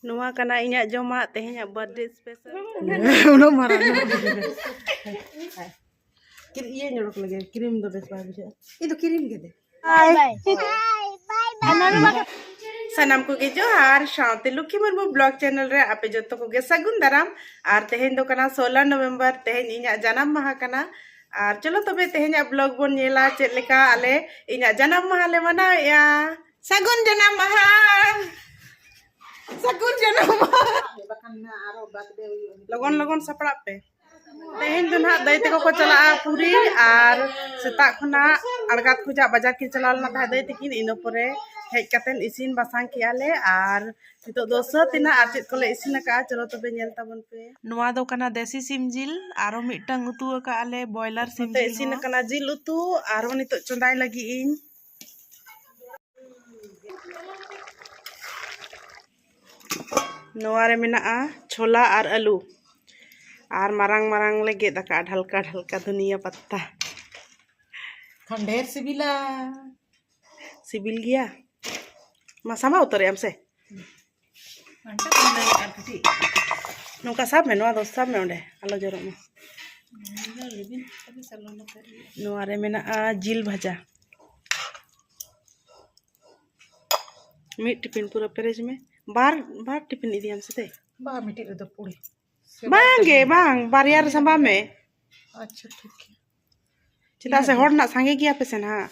ᱱᱚᱣᱟ ᱠᱟᱱᱟ ᱤᱧᱟᱹᱜ ᱡᱚᱢᱟᱜ ᱛᱮᱦᱮᱧᱟᱜ ᱵᱟᱨᱛᱷᱰᱮ ᱥᱯᱮᱥᱟᱞ ᱩᱱᱟᱹᱜ ᱢᱟᱨᱟᱝ ᱤᱭᱟᱹ ᱧᱚᱲᱚᱠ ᱞᱟᱹᱜᱤᱫ ᱠᱨᱤᱢ ᱫᱚ ᱵᱮᱥ ᱵᱟᱭ ᱵᱩᱡᱷᱟᱹᱜᱼᱟ ᱤᱧ ᱫᱚ ᱠᱨᱤᱢ ᱜᱮ ᱫᱮ ᱥᱟᱱᱟᱢ ᱠᱚᱜᱮ ᱡᱚᱦᱟᱨ ᱥᱟᱶᱛᱮ ᱞᱩᱠᱷᱤ ᱢᱩᱨᱢᱩ ᱵᱞᱚᱜ ᱪᱮᱱᱮᱞ ᱨᱮ ᱟᱯᱮ ᱡᱚᱛᱚ ᱠᱚᱜᱮ ᱥᱟᱹᱜᱩᱱ ᱫᱟᱨᱟᱢ ᱟᱨ ᱛᱮᱦᱮᱧ ᱫᱚ ᱠᱟᱱᱟ ᱥᱳᱞᱟ ᱱᱚᱵᱷᱮᱢᱵᱚᱨ ᱛᱮᱦᱮᱧ ᱤᱧᱟᱹᱜ ᱡᱟᱱᱟᱢ ᱢᱟᱦᱟ ᱠᱟᱱᱟ ᱟᱨ ᱪᱚᱞᱚ ᱛᱚᱵᱮ ᱛᱮᱦᱮᱧᱟᱜ ᱵᱞᱚᱜ ᱵᱚᱱ ᱧᱮᱞᱟ ᱪᱮᱫ ᱞᱮᱠᱟ ᱟᱞᱮ ᱤᱧᱟᱹᱜ ᱡᱟᱱᱟᱢ ᱢᱟᱦᱟ ᱞᱮ ᱢᱟᱱᱟᱣᱮᱜᱼᱟ ᱥᱟᱹᱜᱩᱱ ᱡᱟᱱᱟᱢ ᱢᱟᱦᱟ ᱥᱟᱹᱜᱩᱱ ᱡᱟᱱᱟᱢ ᱢᱟᱦᱟ ᱞᱚᱜᱚᱱ ᱞᱚᱜᱚᱱ ᱥᱟᱯᱲᱟᱜ ᱯᱮ ᱛᱮᱦᱮᱧ ᱫᱚ ᱱᱟᱦᱟᱜ ᱫᱟᱹᱭ ᱛᱮᱠᱚ ᱠᱚ ᱪᱟᱞᱟᱜᱼᱟ ᱯᱩᱨᱤ ᱟᱨ ᱥᱮᱛᱟᱜ ᱠᱷᱚᱱᱟᱜ ᱟᱲᱜᱟᱛ ᱠᱷᱚᱡᱟᱜ ᱵᱟᱡᱟᱨ ᱠᱤᱱ ᱪᱟᱞᱟᱣ ᱞᱮᱱᱟ ᱛᱟᱦᱮᱸᱫ ᱫᱟᱹᱭ ᱛᱤᱠᱤᱱ ᱤᱱᱟᱹ ᱯᱚᱨᱮ ᱦᱮᱡ ᱠᱟᱛᱮᱫ ᱤᱥᱤᱱ ᱵᱟᱥᱟᱝ ᱠᱮᱜᱼᱟ ᱞᱮ ᱟᱨ ᱱᱤᱛᱚᱜ ᱫᱚ ᱥᱟᱹᱛ ᱮᱱᱟ ᱟᱨ ᱪᱮᱫ ᱠᱚᱞᱮ ᱤᱥᱤᱱ ᱟᱠᱟᱫᱼᱟ ᱪᱚᱞᱚ ᱛᱚᱵᱮ ᱧᱮᱞ ᱛᱟᱵᱚᱱ ᱯᱮ ᱱᱚᱣᱟ ᱫᱚ ᱠᱟᱱᱟ ᱫᱮᱥᱤ ᱥᱤᱢ ᱡᱤᱞ ᱟᱨᱚ ᱢᱤᱫᱴᱟᱝ ᱩᱛᱩ ᱟᱠᱟᱫᱼᱟ ᱞᱮ ᱵᱚᱭᱞᱟᱨ ᱥᱤᱢ ᱡᱤᱞ ᱤᱥᱤᱱ ᱟᱠᱟᱱᱟ ᱡᱤᱞ ᱩᱛᱩ ᱟᱨᱚ ᱱᱤᱛᱚᱜ ᱪᱚᱸᱫᱟᱭ ᱞᱟᱹᱜᱤᱫ ᱤᱧ ᱱᱚᱣᱟ ᱨᱮ ᱢᱮᱱᱟᱜᱼᱟ ᱪᱷᱳᱞᱟ ᱟᱨ ᱟᱹᱞᱩ ᱟᱨ ᱢᱟᱨᱟᱝ ᱢᱟᱨᱟᱝ ᱞᱮ ᱜᱮᱫ ᱟᱠᱟᱫᱼᱟ ᱰᱷᱟᱞᱠᱟ ᱰᱷᱟᱞᱠᱟ ᱫᱷᱩᱱᱤᱭᱟᱹ ᱯᱟᱛᱟ ᱠᱷᱟᱱ ᱰᱷᱮᱨ ᱥᱤᱵᱤᱞᱟ ᱥᱤᱵᱤᱞ ᱜᱮᱭᱟ ᱢᱟ ᱥᱟᱢᱵᱟᱣ ᱩᱛᱟᱹᱨᱮᱜ ᱟᱢ ᱥᱮ ᱱᱚᱝᱠᱟ ᱥᱟᱵ ᱢᱮ ᱱᱚᱣᱟ ᱫᱚ ᱥᱟᱵ ᱢᱮ ᱚᱸᱰᱮ ᱟᱞᱚ ᱡᱚᱨᱚᱜ ᱢᱟ ᱱᱚᱣᱟ ᱨᱮ ᱢᱮᱱᱟᱜᱼᱟ ᱡᱤᱞ ᱵᱷᱟᱡᱟ ᱢᱤᱫ ᱴᱤᱯᱤᱱ ᱯᱩᱨᱟᱹ ᱯᱮᱨᱮᱡᱽ ᱢᱮ ᱵᱟᱨ ᱵᱟᱨ ᱴᱤᱯᱤᱱ ᱤᱫᱤᱭᱟᱢ ᱥᱮ ᱛᱮ ᱵᱟᱝ ᱢᱤᱫᱴᱤᱡ ᱨᱮᱫᱚ ᱯᱩᱲᱤ ᱵᱟᱝᱜᱮ ᱵᱟᱝ ᱵᱟᱨᱭᱟ ᱨᱮ ᱥᱟᱢᱵᱟᱣ ᱢᱮ ᱟᱪᱪᱷᱟ ᱴᱷᱤᱠ ᱜᱮᱭᱟ ᱪᱮᱫᱟᱜ ᱥᱮ ᱦᱚᱲ ᱨᱮᱱᱟᱜ ᱥᱟᱸᱜᱮ ᱜᱮᱭᱟ ᱯᱮ ᱥᱮ ᱱᱟᱦᱟᱜ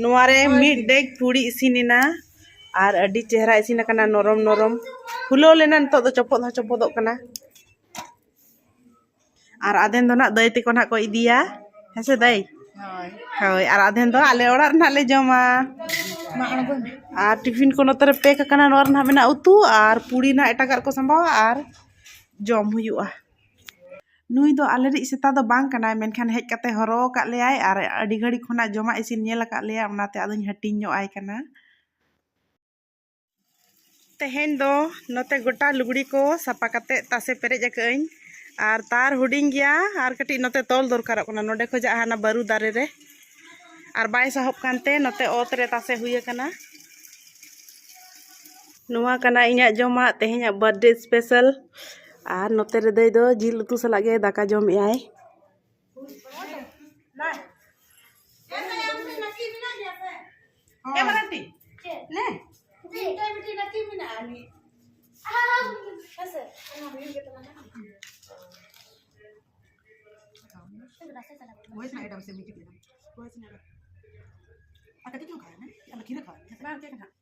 ᱱᱚᱣᱟ ᱨᱮ ᱢᱤᱫ ᱰᱮᱜᱽ ᱯᱩᱲᱤ ᱤᱥᱤᱱ ᱮᱱᱟ ᱟᱨ ᱟᱹᱰᱤ ᱪᱮᱦᱨᱟ ᱤᱥᱤᱱ ᱟᱠᱟᱱᱟ ᱱᱚᱨᱚᱢ ᱱᱚᱨᱚᱢ ᱯᱷᱩᱞᱟᱹᱣ ᱞᱮᱱᱟ ᱱᱤᱛᱚᱜ ᱫᱚ ᱪᱚᱯᱚᱫ ᱦᱚᱸ ᱪᱚᱯᱚᱫᱚᱜ ᱠᱟᱱᱟ ᱟᱨ ᱟᱫᱷᱮᱱ ᱫᱚ ᱱᱟᱜ ᱫᱟᱹᱭ ᱛᱮᱠᱚ ᱱᱟᱜ ᱠᱚ ᱤᱫᱤᱭᱟ ᱦᱮᱸ ᱥᱮ ᱫᱟᱹᱭ ᱦᱳᱭ ᱟᱨ ᱟᱫᱷᱮᱱ ᱫᱚ ᱟᱞᱮ ᱚᱲᱟᱜ ᱨᱮ ᱱᱟᱜ ᱞᱮ ᱡᱚᱢᱟ ᱟᱨ ᱴᱤᱯᱷᱤᱱ ᱠᱚ ᱱᱚᱛᱮ ᱨᱮ ᱯᱮᱠ ᱟᱠᱟᱱᱟ ᱱᱚᱣᱟ ᱨᱮ ᱱᱟᱜ ᱢᱮᱱᱟᱜᱼᱟ ᱩᱛᱩ ᱟᱨ ᱯᱩᱲᱤ ᱱᱟᱜ ᱮᱴᱟᱜᱟᱜ ᱨᱮᱠᱚ ᱥᱟᱢᱵᱟᱣᱟ ᱟᱨ ᱡᱚᱢ ᱦᱩᱭᱩᱜᱼᱟ ᱱᱩᱭ ᱫᱚ ᱟᱞᱮ ᱨᱤᱡ ᱥᱮᱛᱟ ᱫᱚ ᱵᱟᱝ ᱠᱟᱱᱟᱭ ᱢᱮᱱᱠᱷᱟᱱ ᱦᱮᱡ ᱠᱟᱛᱮ ᱦᱚᱨᱚ ᱟᱠᱟᱫ ᱞᱮᱭᱟᱭ ᱟᱨ ᱟᱹᱰᱤ ᱜᱷᱟᱹᱲᱤ ᱠᱷᱚᱱᱟᱜ ᱡᱚᱢᱟᱜ ᱤᱥᱤᱱ ᱧᱮᱞ ᱟᱠᱟᱫ ᱞᱮᱭᱟᱭ ᱚᱱᱟᱛᱮ ᱟᱫᱚᱧ ᱦᱟᱹᱴᱤᱧ ᱧᱚᱜ ᱟᱭ ᱠᱟᱱᱟ ᱛᱮᱦᱮᱧ ᱫᱚ ᱱᱚᱛᱮ ᱜᱚᱴᱟ ᱞᱩᱜᱽᱲᱤ ᱠᱚ ᱥᱟᱯᱟ ᱠᱟᱛᱮ ᱛᱟᱥᱮ ᱯᱮᱨᱮᱡ ᱟᱠᱟᱫᱟᱹᱧ ᱟᱨ ᱛᱟᱨ ᱦᱩᱰᱤᱧ ᱜᱮᱭᱟ ᱟᱨ ᱠᱟᱹᱴᱤᱡ ᱱᱚᱛᱮ ᱛᱚᱞ ᱫᱚᱨᱠᱟᱨᱚᱜ ᱠᱟᱱᱟ ᱱᱚᱰᱮ ᱠᱷᱚᱡᱟᱜ ᱦᱟᱱᱟ ᱵᱟᱹᱨᱩ ᱫᱟᱨᱮ ᱨᱮ ᱟᱨ ᱵᱟᱭ ᱥᱟᱦᱚᱵ ᱠᱟᱱᱛᱮ ᱱᱚᱛᱮ ᱚᱛ ᱨᱮ ᱛᱟᱥᱮ ᱦᱩᱭ ᱟᱠᱟᱱᱟ ᱱᱚᱣᱟ ᱠᱟᱱᱟ ᱤᱧᱟᱹᱜ ᱡᱚᱢᱟᱜ ᱛᱮᱦᱮᱧᱟᱜ ᱵᱟᱨᱛᱷᱰᱮ ᱥᱯᱮᱥᱟᱞ ᱟᱨ ᱱᱚᱛᱮ ᱨᱮ ᱫᱟᱹᱭ ᱫᱚ ᱡᱤᱞ ᱩᱛᱩ ᱥᱟᱞᱟᱜ ᱜᱮ ᱫᱟᱠᱟ ᱡᱚᱢᱮᱜᱼᱟᱭ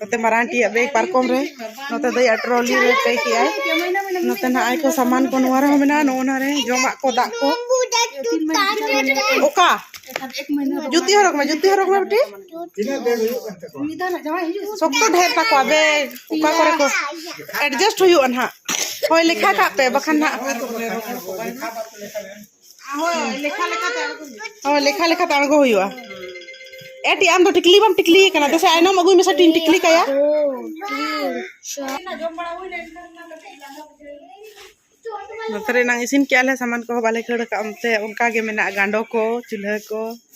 ᱱᱚᱛᱮ ᱢᱟᱨᱟᱝ ᱴᱤᱭᱟᱜ ᱵᱮᱜᱽ ᱯᱟᱨᱠᱚᱢ ᱨᱮ ᱱᱚᱛᱮ ᱫᱚᱭᱟ ᱴᱨᱚᱞᱤ ᱨᱮ ᱯᱮᱠ ᱮᱫᱟᱭ ᱱᱚᱛᱮ ᱱᱟᱜ ᱟᱭ ᱠᱚ ᱥᱟᱢᱟᱱ ᱠᱚ ᱱᱚᱣᱟ ᱨᱮᱦᱚᱸ ᱢᱮᱱᱟᱜᱼᱟ ᱱᱚᱜᱼᱚ ᱱᱟ ᱨᱮ ᱡᱚᱢᱟᱜ ᱠᱚ ᱫᱟᱜ ᱠᱚ ᱚᱠᱟ ᱡᱩᱛᱤ ᱦᱚᱨᱚᱜ ᱢᱮ ᱡᱩᱛᱤ ᱦᱚᱨᱚᱜ ᱢᱮ ᱵᱤᱴᱤ ᱥᱚᱠᱛᱚ ᱰᱷᱮᱨ ᱛᱟᱠᱚᱣᱟ ᱵᱮᱜᱽ ᱚᱠᱟ ᱠᱚᱨᱮ ᱠᱚ ᱮᱰᱡᱟᱥᱴ ᱦᱩᱭᱩᱜᱼᱟ ᱱᱟᱦᱟᱜ ᱦᱳᱭ ᱞᱮᱠᱷᱟ ᱠᱟᱜ ᱯᱮ ᱵᱟᱠᱷᱟᱱ ᱱᱟᱦᱟᱜ ᱦᱳᱭ ᱞᱮᱠᱷᱟ ᱞᱮᱠᱟᱛᱮ ᱟᱬᱜᱚ ᱦᱩᱭᱩᱜᱼᱟ ᱦᱳᱭ ᱞᱮᱠᱷᱟ ᱞᱮᱠᱟᱛᱮ ᱟᱬᱜᱚ ᱦᱩᱭᱩᱜᱼᱟ ᱮᱴᱤ ᱟᱢ ᱫᱚ ᱴᱤᱠᱞᱤ ᱵᱟᱢ ᱴᱤᱠᱞᱤ ᱠᱟᱱᱟ ᱫᱮᱥᱮ ᱟᱭᱱᱚᱢ ᱟᱹᱜᱩᱭ ᱢᱮᱥᱮ ᱴᱤᱧ ᱴᱤᱠᱞᱤ ᱠᱟᱭᱟ ᱱᱚᱛᱮ ᱨᱮ ᱮᱱᱟᱝ ᱤᱥᱤᱱ ᱠᱮᱜᱼᱟ ᱞᱮ ᱥᱟᱢᱟᱱ ᱠᱚᱦᱚᱸ ᱵᱟᱞᱮ ᱠᱷᱟᱹᱲ ᱠᱟᱜᱼᱟ ᱚᱱᱛᱮ ᱚᱱᱠᱟ ᱜᱮ ᱢᱮᱱᱟᱜᱼᱟ ᱜᱟᱸᱰᱚ ᱠᱚ ᱪᱩᱞᱦᱟᱹ ᱠᱚ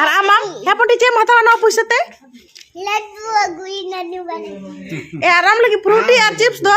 ᱟᱨ ᱟᱢᱟᱢ ᱦᱮᱸ ᱯᱚᱴᱤ ᱪᱮᱫ ᱮᱢ ᱦᱟᱛᱟᱣᱟ ᱱᱚᱣᱟ ᱯᱩᱭᱥᱟᱹ ᱛᱮ ᱞᱟᱹᱰᱩ ᱟᱹᱜᱩᱭ ᱱᱟᱱᱩ ᱵᱟᱞᱮ ᱮ ᱟᱨ ᱟᱢ ᱞᱟᱹᱜᱤᱫ ᱯᱷᱨᱩᱴᱤ ᱟᱨ ᱪᱤᱯᱥ ᱫᱚ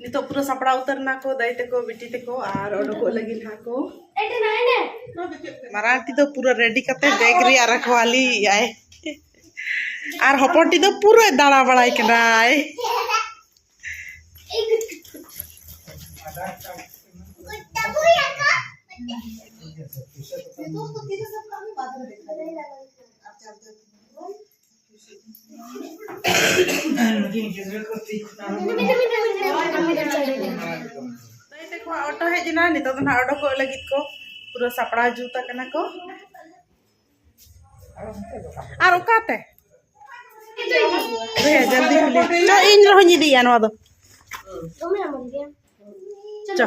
ᱱᱤᱛᱚᱜ ᱯᱩᱨᱟᱹ ᱥᱟᱯᱲᱟᱣ ᱩᱛᱟᱹᱨ ᱱᱟᱠᱚ ᱫᱟᱹᱭ ᱛᱮᱠᱚ ᱵᱤᱴᱤ ᱛᱮᱠᱚ ᱟᱨ ᱚᱰᱚᱠᱚᱜ ᱞᱟᱹᱜᱤᱫ ᱦᱟᱸᱜ ᱠᱚ ᱢᱟᱨᱟᱝ ᱴᱤ ᱫᱚ ᱯᱩᱨᱟᱹ ᱨᱮᱰᱤ ᱠᱟᱛᱮ ᱵᱮᱜᱽ ᱨᱮᱭᱟᱜ ᱨᱟᱠᱷᱣᱟᱞᱤ ᱟᱭ ᱟᱨ ᱦᱚᱯᱚᱱ ᱴᱤ ᱫᱚ ᱯᱩᱨᱟᱹ ᱫᱟᱬᱟ ᱵᱟᱲᱟᱭ ᱠᱟᱱᱟᱭ ᱚᱴᱳ ᱦᱮᱡ ᱮᱱᱟ ᱱᱤᱛᱚᱜ ᱫᱚ ᱱᱟᱜ ᱚᱰᱚᱠᱚᱜ ᱞᱟᱹᱜᱤᱫ ᱠᱚ ᱯᱩᱨᱟᱹ ᱥᱟᱯᱲᱟᱣ ᱡᱩᱛ ᱟᱠᱟᱱᱟ ᱠᱚ ᱟᱨ ᱚᱠᱟᱛᱮ ᱡᱚᱞᱫᱤ ᱠᱩᱞᱤ ᱪᱚ ᱤᱧ ᱨᱮᱦᱚᱸᱧ ᱤᱫᱤᱭᱟ ᱱᱚᱣᱟ ᱫᱚ ᱪᱚ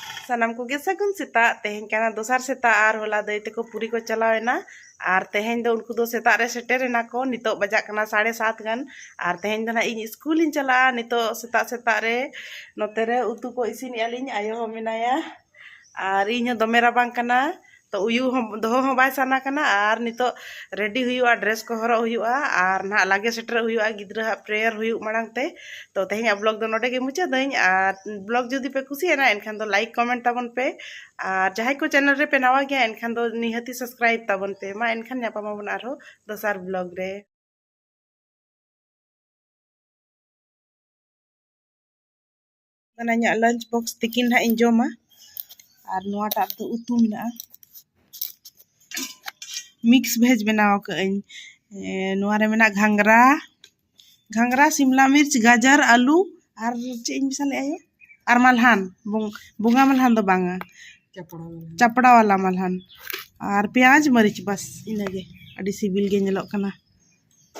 ᱥᱟᱱᱟᱢ ᱠᱚᱜᱮ ᱥᱟᱹᱜᱩᱱ ᱥᱮᱛᱟᱜ ᱛᱮᱦᱮᱧ ᱠᱟᱱᱟ ᱫᱚᱥᱟᱨ ᱥᱮᱛᱟᱜ ᱟᱨ ᱦᱚᱞᱟ ᱫᱟᱹᱭ ᱛᱮᱠᱚ ᱯᱩᱨᱤ ᱠᱚ ᱪᱟᱞᱟᱣ ᱮᱱᱟ ᱟᱨ ᱛᱮᱦᱮᱧ ᱫᱚ ᱩᱱᱠᱩ ᱫᱚ ᱥᱮᱛᱟᱜ ᱨᱮ ᱥᱮᱴᱮᱨ ᱮᱱᱟ ᱠᱚ ᱱᱤᱛᱚᱜ ᱵᱟᱡᱟᱜ ᱠᱟᱱᱟ ᱥᱟᱲᱮ ᱥᱟᱛ ᱜᱟᱱ ᱟᱨ ᱛᱮᱦᱮᱧ ᱫᱚ ᱱᱟᱜ ᱤᱧ ᱤᱥᱠᱩᱞᱤᱧ ᱪᱟᱞᱟᱜᱼᱟ ᱱᱤᱛᱚᱜ ᱥᱮᱛᱟᱜ ᱥᱮᱛᱟᱜ ᱨᱮ ᱱᱚᱛᱮ ᱨᱮ ᱩᱛᱩ ᱠᱚ ᱤᱥᱤᱱᱮᱜᱼᱟ ᱞᱤᱧ ᱟᱭᱳ ᱦᱚᱸ ᱢᱮᱱᱟᱭᱟ ᱟᱨ ᱤᱧ ᱦᱚᱸ ᱫᱚᱢᱮ ᱨᱟᱵᱟᱝ ᱠᱟᱱᱟ ᱛᱚ ᱩᱭᱩ ᱦᱚᱸ ᱫᱚᱦᱚ ᱦᱚᱸ ᱵᱟᱭ ᱥᱟᱱᱟ ᱠᱟᱱᱟ ᱟᱨ ᱱᱤᱛᱚᱜ ᱨᱮᱰᱤ ᱦᱩᱭᱩᱜᱼᱟ ᱰᱨᱮᱥ ᱠᱚ ᱦᱚᱨᱚᱜ ᱦᱩᱭᱩᱜᱼᱟ ᱟᱨ ᱱᱟᱦᱟᱜ ᱞᱟᱜᱮ ᱥᱮᱴᱮᱨᱚᱜ ᱦᱩᱭᱩᱜᱼᱟ ᱜᱤᱫᱽᱨᱟᱹ ᱦᱟᱸᱜ ᱯᱨᱮᱭᱟᱨ ᱦᱩᱭᱩᱜ ᱢᱟᱲᱟᱝ ᱛᱮ ᱛᱚ ᱛᱮᱦᱮᱧᱟᱜ ᱵᱞᱚᱜ ᱫᱚ ᱱᱚᱰᱮ ᱜᱮ ᱢᱩᱪᱟᱹᱫᱟᱹᱧ ᱟᱨ ᱵᱞᱚᱜ ᱡᱩᱫᱤ ᱯᱮ ᱠᱩᱥᱤᱭᱟᱱᱟ ᱮᱱᱠᱷᱟᱱ ᱫᱚ ᱞᱟᱭᱤᱠ ᱠᱚᱢᱮᱱᱴ ᱛᱟᱵᱚᱱ ᱯᱮ ᱟᱨ ᱡᱟᱦᱟᱸᱭ ᱠᱚ ᱪᱮᱱᱮᱞ ᱨᱮ ᱯᱮ ᱱᱟᱣᱟ ᱜᱮᱭᱟ ᱮᱱᱠᱷᱟᱱ ᱫᱚ ᱱᱤᱦᱟᱹᱛᱤ ᱥᱟᱵᱥᱠᱨᱟᱭᱤᱵ ᱛᱟᱵᱚᱱ ᱯᱮ ᱢᱟ ᱮᱱᱠᱷᱟᱱ ᱧᱟᱯᱟᱢᱟᱵᱚᱱ ᱟᱨᱦᱚᱸ ᱫᱚᱥᱟᱨ ᱵᱞᱚᱜ ᱨᱮ ᱚᱱᱟ ᱤᱧᱟᱹᱜ ᱞᱟᱧᱪ ᱵᱚᱠᱥ ᱛᱤᱠᱤᱱ ᱦᱟᱸᱜ ᱤᱧ ᱡᱚᱢᱟ ᱟᱨ ᱱᱚᱣᱟᱴᱟᱜ ᱫᱚ ᱩᱛᱩ ᱢᱮᱱᱟᱜᱼᱟ ᱢᱤᱠᱥ ᱵᱷᱮᱡᱽ ᱵᱮᱱᱟᱣ ᱟᱠᱟᱫ ᱟᱹᱧ ᱱᱚᱣᱟ ᱨᱮ ᱢᱮᱱᱟᱜ ᱜᱷᱟᱸᱜᱽᱨᱟ ᱜᱷᱟᱸᱜᱽᱨᱟ ᱥᱤᱢᱞᱟ ᱢᱤᱨᱪ ᱜᱟᱡᱚᱨ ᱟᱹᱞᱩ ᱟᱨ ᱪᱮᱫ ᱤᱧ ᱢᱮᱥᱟ ᱞᱮᱫᱼᱟ ᱭᱳ ᱟᱨ ᱢᱟᱞᱦᱟᱱ ᱵᱚᱸᱜᱟ ᱢᱟᱞᱦᱟᱱ ᱫᱚ ᱵᱟᱝᱟ ᱪᱟᱯᱲᱟ ᱣᱟᱞᱟ ᱢᱟᱞᱦᱟᱱ ᱟᱨ ᱯᱮᱸᱭᱟᱡᱽ ᱢᱟᱹᱨᱤᱪ ᱵᱟᱥ ᱤᱱᱟᱹᱜᱮ ᱟᱹᱰᱤ ᱥᱤᱵᱤᱞ ᱜᱮ ᱧᱮᱞᱚᱜ ᱠᱟᱱᱟ